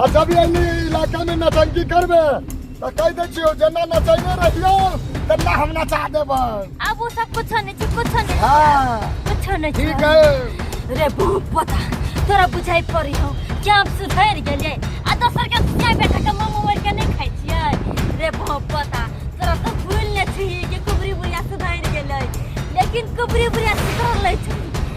आ जब ये नी इलाका में नटंकी करबे तो कह दे छियो जेना नचैने रहियो तेना हम नचा देबो अब वो सब कुछ नहीं छै कुछ नहीं हां कुछ नहीं ठीक छै है रे भूख पता तोरा बुझाइ पड़ी हो कि हम सुधर गेलिए आ दोसर के गाय बेटा के मुंह मोड़ के नहीं खाइ छियै रे भूख पता तोरा तो भूल ले छी कि कुबरी बुढ़िया सुधर गेलै लेकिन कुबरी बुढ़िया सुधर लै छै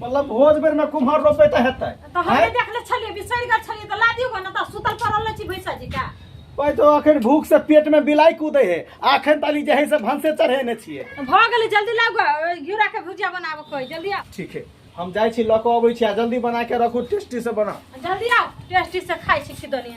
मतलब भोज बेर में कुम्हर रोपे तो हेतै तो हम हैं? देखले छलिए बिसरि गेल छलिए तो ला दियो गो ना तो सुतल पड़ल रहे छी भैंसा जी का भाई तो अखन भूख से पेट में बिलाई कूदे है अखन ताली जहे से भंसे चढ़ेने छिए तो भ गेलै जल्दी लाउ गो घिउरा के भुजिया बनाबो कोई जल्दी आओ ठीक है हम जाइ छी लऽ कऽ अबै छी आ जल्दी बना के रखू टेस्टी से बना जल्दी आओ टेस्टी से खाइ छी खिदनिया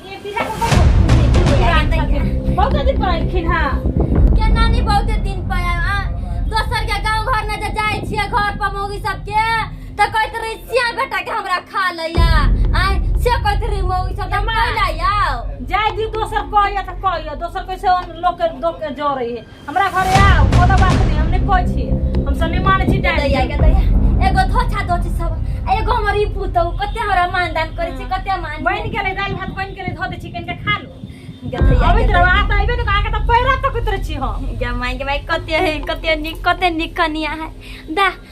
बहुते दिन पर एलखिन हँ केना नहीं बहुते दिन पर आयल। आ, दोसर के गांव घर में जे जाय छियै घर पर मौगी सबके त कहैत रही सिया बेटा के हमरा खा लैया आय से कहैत रही मौगी सब हम माँ। खा लैया जाय दी दोसर कहैया तऽ कहैया दोसर कैसे लोक के लोक के जरे है हमरा घरे आउ कोनो बात नहीं हम नहीं कोई छी हम सम्मान छी दैया डाल के दैया एगो धोछा धोछी सब आ एगो हमर ई पुतौ कते हमरा मानदान करै छै कते मान बन के ले दाल भात बन के ले धो दे छी कनके खा लो अबे दैया तरवा त आइबे न आके त पैरा तक उतरे छी हम जमाई के भाई कते है कते निक कते निक कनिया है दा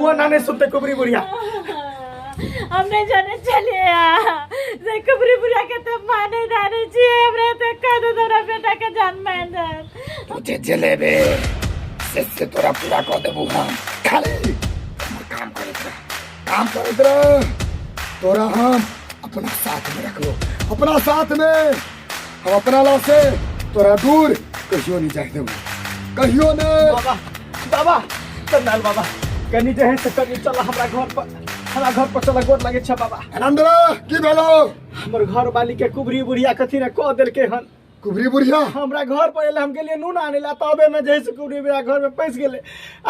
वो ना नहीं सुनते कुबरी बुढ़िया हम नहीं जाने चले आ जे कुबरी बुढ़िया के तो माने जाने छी हमरा तो कह दो तोरा बेटा के जान मान दे तुझे जलेबे इससे तोरा पूरा कर देबू हम खाली हमर काम करे तोरा काम करे तोरा तोरा हम अपना साथ में रख लो अपना साथ में हम अपना ला से तोरा दूर कहियो नहीं जाए देबो कहियो ने बाबा बाबा करनाल बाबा कनी जे है से कनी चल हमरा घर पर हमरा घर पर चल गोर लगे छै बाबा आनंद की भेलो हमर घर वाली के कुबरी बुढ़िया कथी ने कह देलके हन कुबरी बुढ़िया हमरा घर पर एले हम गेलिए नून आने ला तबे में जे है से कुबरी बुढ़िया घर में पैस गेले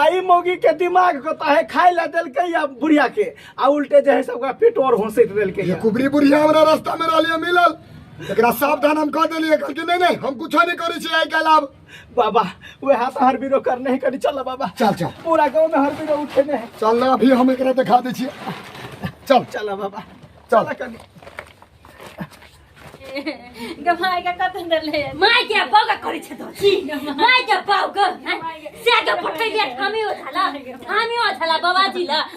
आ ई मौगी के दिमाग कता है खाए ला देलके या बुढ़िया के आ उल्टे जे है से ओकरा पेट और होंसैत देलके ये या। कुबरी बुढ़िया हमरा रास्ता में रहलिए मिलल एकरा सावधान हम कह देलिए कहलकै नहीं नहीं हम कुछ नहीं करै छी आइ काल्हि आब बाबा वे हाथ हर बीरो कर नहीं करी चल बाबा चल चल पूरा गांव में हर बीरो उठे ने है चल ना अभी हम एकरा दिखा दै छियै चल चल बाबा चल। चल कनी गमाय का कतन डले माय के बागा करे छ त जी माय के बाउ ग से के फटै दिया ठामी हो झाला ठामी हो झाला बाबा जी ल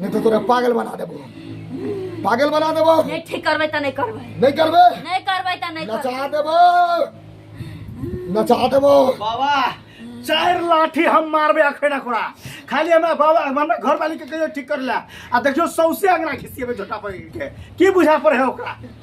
नहीं तो तोरा पागल बना देबो पागल बना देबो नहीं ठीक करबे त नहीं करबे नहीं करबे नहीं करबे त नहीं करबे नचा देबो नचा देबो बाबा चार लाठी हम मारबे अखैना खोड़ा खाली हमरा बाबा हमरा घर वाली के कहियो ठीक कर ला आ देखियो सौसे अंगना घिसिएबे झोटा पर के की बुझा पर है ओकरा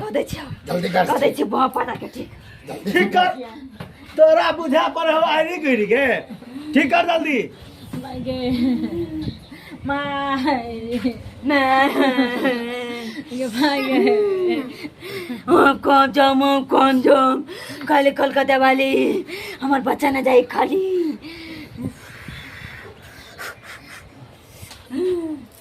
कह दै छियो जल्दी कर कह दै छियो बाँ पाटा के ठीक ठीक कर तोरा बुझा पर हो आरी गिर के ठीक कर जल्दी माय गे माय मैं ये माय गे हम कौन जाम हम कौन जाम काले कलकत्ता वाली हमार बच्चा न जाए खाली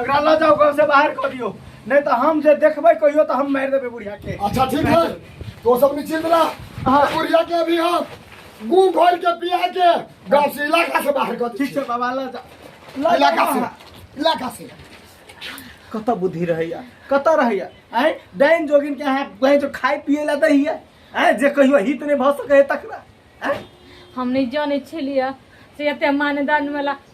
एकरा लऽ जाओ घर से बाहर कर दियो नहीं तो हम जे देखबे कहियो तो हम मार देबे बुढ़िया के अच्छा ठीक है तो सब निश्चिंत रह हाँ। बुढ़िया के अभी हम गू घोर के पिया के गाँव से इलाका से बाहर कर ठीक है बाबा लऽ जा लऽ इलाका से इलाका से कत बुद्धि रहैया कत रहैया आय डाइन जोगिन के यहाँ कहीं जो खाए पिए ला दै हिया आय जे कहियो हित नहीं भऽ सकै तकरा आय हम नहीं जाने छलिए से एते मानदान वाला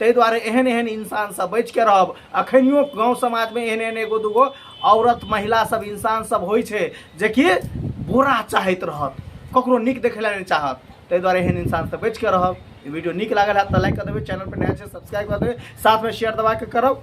ताहि दुआरे एहन एहन इंसानसँ बचि कऽ रहब अखनियो गाँव समाजमे एहन एहन एगो दूगो औरत महिला सब इंसान सब होइ छै जेकि बुरा चाहैत रहत ककरो नीक देखै लए नहि चाहत ताहि दुआरे एहन इंसानसँ बचि कऽ रहब वीडियो नीक लागल है तऽ लाइक कऽ देबै चैनल पर नया छै सब्सक्राइब कऽ देबै साथमे शेयर दबा कऽ करब